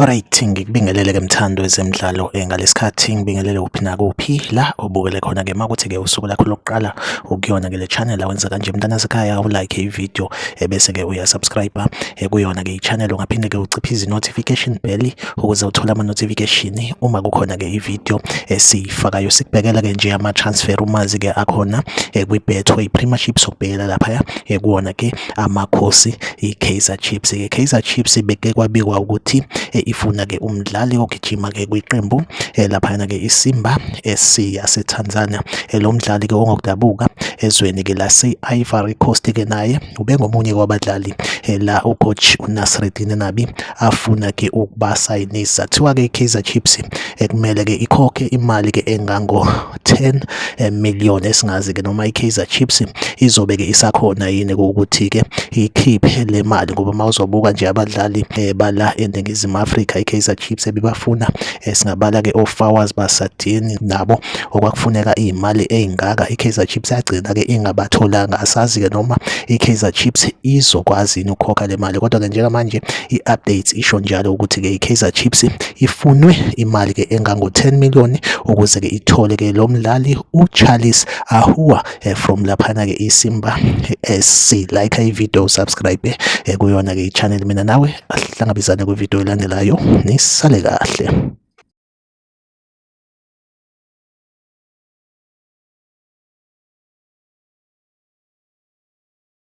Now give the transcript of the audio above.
Alright, ngikubingelele ke mthando wezemidlalo eh, ngalesikhathi ngibingelele kuphi nakuphi la obukele khona ke makuthi ke usuku lakho lokuqala ukuyona ke le channel awenza kanje mntana sekhaya u like i video eh, bese ke uya subscribe eh, kuyona ke i channel ungaphinde ke uciphe izi notification bell ukuze uthole ama notification uma kukhona ke i video esifakayo sikubhekela ke nje ama transfer umazi ke akhona kwi betway premiership sokubhekela lapha ya kuona ke Amakhosi iKaizer Chiefs ke Kaizer Chiefs beke kwabikwa ukuthi eh, ifuna ke umdlali ogijima ke kwiqembu eh, laphana ke iSimba SC yaseTanzania eh, lo mdlali ke ongokudabuka ezweni ke lase-Ivory Coast ke naye ubengomunye kwabadlali la ucoach uNasreddine Nabi afuna ke ukubasayinisa kuthiwa ke iKaizer Chiefs ekumele ke ikhokhe imali ke engango 10 eh, million esingazi ke noma iKaizer Chiefs izobe ke isakhona yini ukuthi ke ikhiphe le mali ngoba mawuzobuka nje abadlali eh, bala eNingizimu Afrika iKaizer Chiefs ebibafuna eh, singabala ke oFawaz Basadini nabo okwakufuneka imali ezingaka iKaizer Chiefs yagcina ke ingabatholanga asazi ke noma iKaizer Chiefs izokwazi ukukhokha le mali kodwa ke njengamanje iupdates isho njalo ukuthi ke iKaizer Chiefs Ifunwe imali ke engango-10 million ukuze ke ithole ke lo mdlali uCharles Ahua eh, from laphana ke iSimba SC like ivideo subscribe eh, kuyona ke ichannel mina nawe ahlangabezane kwivideo elandelayo nisale kahle